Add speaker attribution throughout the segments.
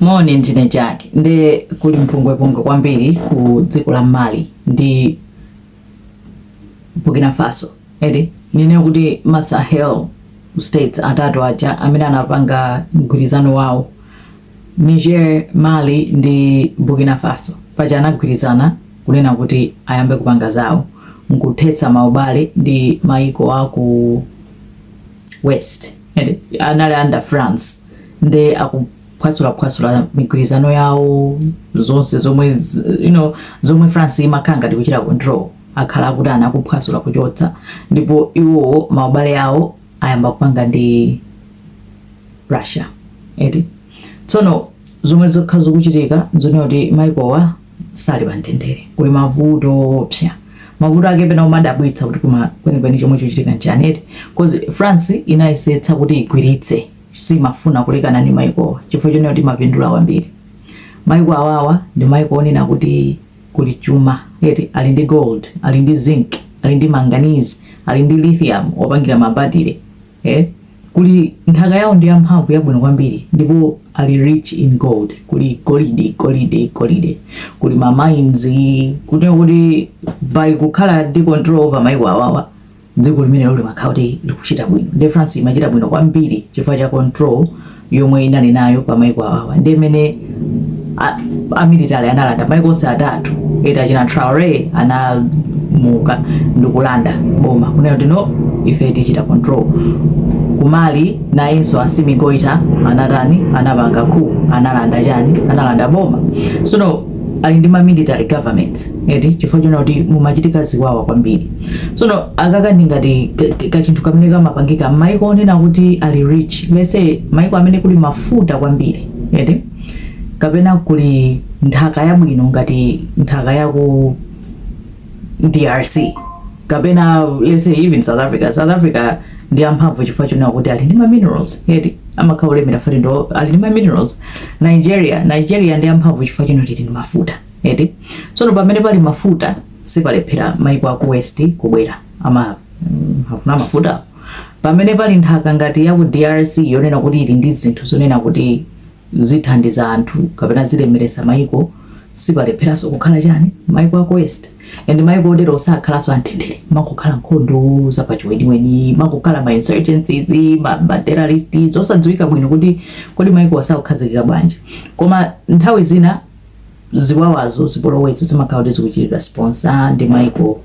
Speaker 1: Moni, ndine Jack. Nde kuli mpungwepungwe kwambiri ku dziko la Mali ndi Burkina Faso. Eti, ndinene kuti ma Sahel states atatu aja amene anapanga mgwirizano wawo Niger, Mali ndi Burkina Faso paja anagwirizana kunena kuti ayambe kupanga zawo nkuthetsa maubale ndi maiko a ku west eti, anali under France nde akuphwasulaphwasula migwirizano yawo zonse zomwe z- you know, zomwe france imakhala ngati kuchita control akhala akutani akuphwasula kuchotsa ndipo iwowo maubale awo ayamba kupanga ndi russia eti tsono zomwe zokha zikuchitika nzonena kuti maikowa sali pa mtendere, kuli mavuto oopsa. Mavuto ake pena umadabwitsa kuti koma kwenikweni chomwe chochitika nchani eti cause France inayesetsa kuti igwiritse simafuna kulekana ndi maikowa chifukwa chonena kuti imapindula kwambiri maiko awawa ndi maiko onena kuti kuli chuma eti ali ndi gold ali ndi zinc ali ndi manganese ali ndi lithium opangira mabatire e. Kuli nthaka yawo ndi yamphamvu yabwino kwambiri ndipo ali rich in gold. Kuli golidi golide golide. Kuli ma mines kunena kuti by kukhala ndi control over maiko awawa dziko limenelo limakhala kuti likuchita bwino. Nde France imachita bwino kwambiri chifukwa cha control yomwe inali nayo pa maiko awawa nde mmene a- amilitary analanda maiko onse atatu eti achina traore anadzuka ndikulanda boma kunena kuti no ife tichita control ku mali nayenso assimi goita anatani anapanga coup analanda chani analanda boma sono ali ndi ma military government eti chifukwa chonena kuti mumachitika ziwawa kwambiri tsono akaka ndi ngati ka- ka- kachinthu kamene kamapangika m'maiko onena kuti ali rich let's say maiko amene kuli mafuta kwambiri eti kapena kuli nthaka yabwino ngati nthaka yaku drc kapena let's say even south africa south africa ndi amphamvu chifukwa chonena kuti ali ndi ma minerals eti amakhala olemera fati ndo ali ndi ma minerals nigeria nigeria ndi amphamvu chifukwa chonena kuti ili ndi mafuta eti tsono pamene pali mafuta sipalephera maiko aku west kubwera ama mm, amafuna mafuta pamene pali nthaka ngati ya ku drc yonena kuti ili ndi zinthu zonena kuti zithandiza anthu kapena zilemeresa maiko sipalepheranso kukhala chani maiko aku west and maiko otero sakhalanso amtendere kumakhala nkhondo zapachiweniweni kumakhala ma insurgencies ma, ma terrorists osadziwika bwino kuti kodi maikowa sakukhazikika bwanji koma nthawi zina ziwawazo zipolowezo zimakhala kuti zikuchitidwa sponsor ndi maiko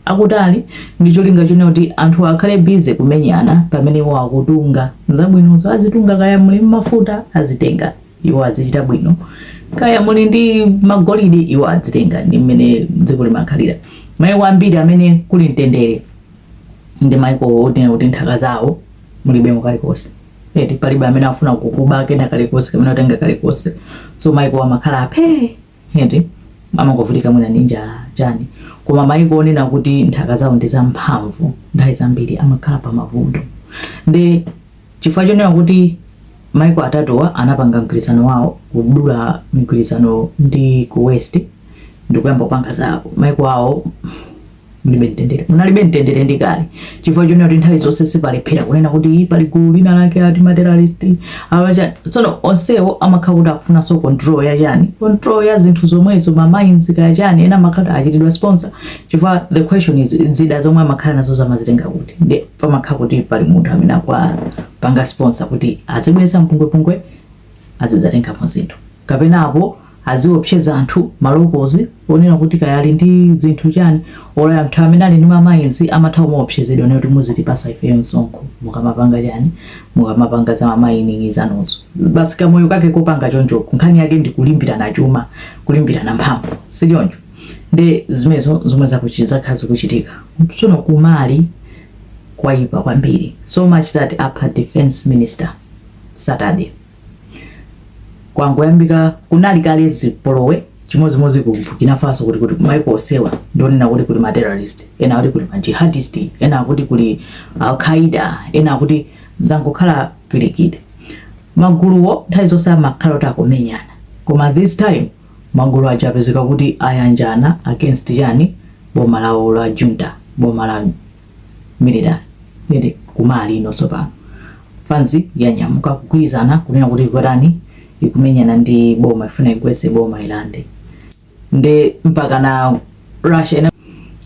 Speaker 1: akutali ndi cholinga chonena kuti anthu akhale busy kumenyana pamene iwo akutunga zabwinozo azitunga kaya muli mafuta azitenga iwo azichita bwino kaya muli ndi magolide iwo azitenga ndi mmene dziko limakhalira maiko ambiri amene kuli mtendere ndi maiko onena kuti nthaka zawo mulibemo kalikonse eti palibe amene afuna kukuba kena kalikonse kamene angatenge kalikonse so maiko amakhala aphe eti amangovutika mwina ndi njala chani koma maiko onena kuti nthaka zawo ndi zamphamvu nthawi zambiri amakhala pa mavuto ndi chifukwa chonena kuti maiko atatuwa anapanga mgwirizano wawo kudula mgwirizano ndi ku west ndikuyamba kupanga zawo maiko awo mulibe mtendere munalibe mtendere ndi kale chifukwa chonena kuti nthawi zonse sipalephera kunena kuti pali gulu lina lake ati materrorist awacha tsono onsewo amakhala kuti akufunanso control ya chani control ya zinthu zomwezo ma mines kaya chani ena amakhala kuti achitidwa sponsor chifukwa the question is zida zomwe amakhala nazo amazitenga kuti ndi pamakhala kuti pali munthu amene akuwapanga sponsor kuti azibweretsa mpungwepungwe azidzatengapo zinthu kapena apo aziopseza anthu malokozi onena kuti kaya ali ndi zinthu chani or anthu amene ali ndi ma mines amatha kumaopsezedwa onena kuti muzitipasa ifeyo msonkho mukamapanga chani mukamapanga za ma mining zanuzo basi kamoyo kake kopanga chonchoko nkhani yake ndi kulimbirana chuma kulimbirana mphamvu si choncho ndi zimezo zomwe zakuchi- zakhala zikuchitika tsono kumali kwayipa kwambiri so much that apha defense minister saturday kwangoyambika kunali kale zipolowe chimodzimodzi ku burkina faso kuti kuti maiko osewa ndionena kuti kuli materrorist ena kuti kuli majihadist ena kuti kuli Al-Qaeda ena kuti zangokhala pirikiti maguluwo nthawi zonse amakhala kuti akumenyana koma this time magulu aja apezeka kuti ayanjana against chani boma lawo la junta boma la military eti ku Mali ino tsopano fanzi yanyamuka kugwirizana kunena kuti kutani ikumenyana ndi boma ifuna igwese boma ilande ndi mpaka na russia ina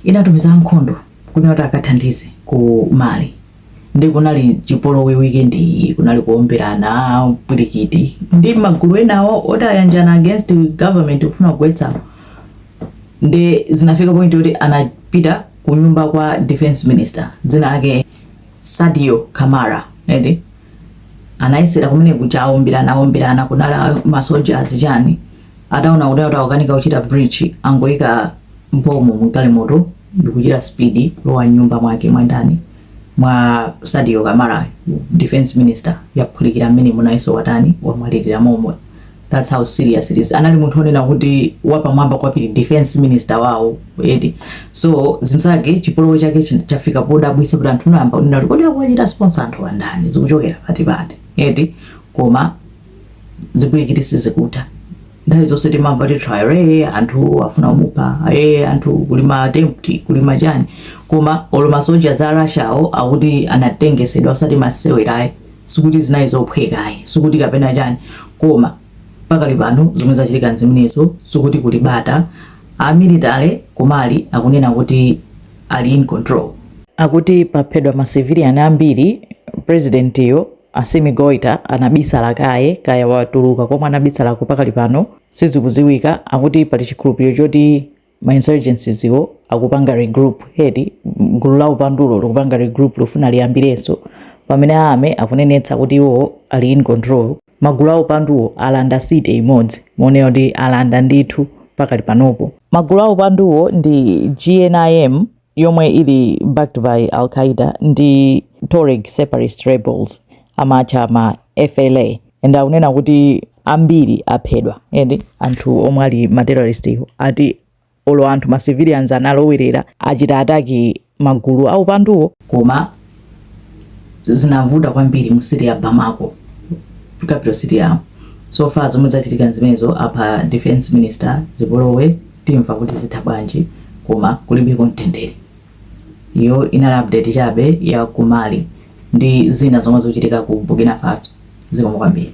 Speaker 1: inatumiza nkhondo kunena kuti akathandize ku mali ndi kunali chipolowe weekend iyi kunali kuomberana pirikiti ndi magulu enawo oti ayanjana against government kufuna kugwetsa ndi zinafika point yoti anapita kunyumba kwa defense minister dzina lake Sadio Kamara eti anayesera kumeneku kuja aomberana aomberana kunali masoja ndi chani ataona kuti akanika kuchita breach angoyika bomb mgalimoto ndikuchita speed kulowa nyumba mwake mwa ndani mwa Sadio Kamara defense minister yaphulikira mmenemo nayenso watani wamwalirira momo that's how serious it is anali munthu onena kuti wapamwamba kwambiri defense minister wawo eti so zinzake chipolowe chake chi- chafika podabwisa kuti anthu n'kuyamba kunena kuti kodi akuwachita sponsor anthu wa ndani zikuchokera pati eti koma zipwirikiti sizikutha nthawi zonse timamva kuti trial eh, anthu afuna kumupha eh, anthu kuli ma attempt kuli machani koma olo ma soldier a russia awo akuti anatengetsedwa osati masewerayi sikuti zinali zophweka ayi sikuti kapena chani koma pakali pano zomwe zachitika nzimenezo sikuti kuli bata a military ku mali akunena kuti ali in control akuti paphedwa ma civilian ambiri president yo assimi goita anabisala kaye kaya watuluka komwe anabisalako pakali pano sizikuziwika akuti pali chikhulupiriro choti ma insurgencies wo akupanga regroup eti gulu la upandulo likupanga regroup likufuna liyambirenso pamene a army akunenetsa kuti iwowo ali in control magulu a upanduwo alanda city imodzi monena kuti alanda ndithu pakali panopo magulu a upanduwo ndi gnim yomwe ili backed by Al Qaeda ndi Tuareg separatist rebels amatcha ma FLA and akunena kuti ambiri aphedwa eti anthu omwe ali ma terrorist wo ati olo anthu ma civilians analowerera kuchita attack magulu aupanduwo koma zinavuta kwambiri mu city ya Bamako capital city yawo so far zomwe zachitika nzimenezo apha defense minister zipolowe Timva kuti zitha bwanji koma kulibeko mtendere. Iyo inali update chabe ya ku Mali ndi zina zomwe zochitika ku Burkina Faso. Zikomo kwambiri.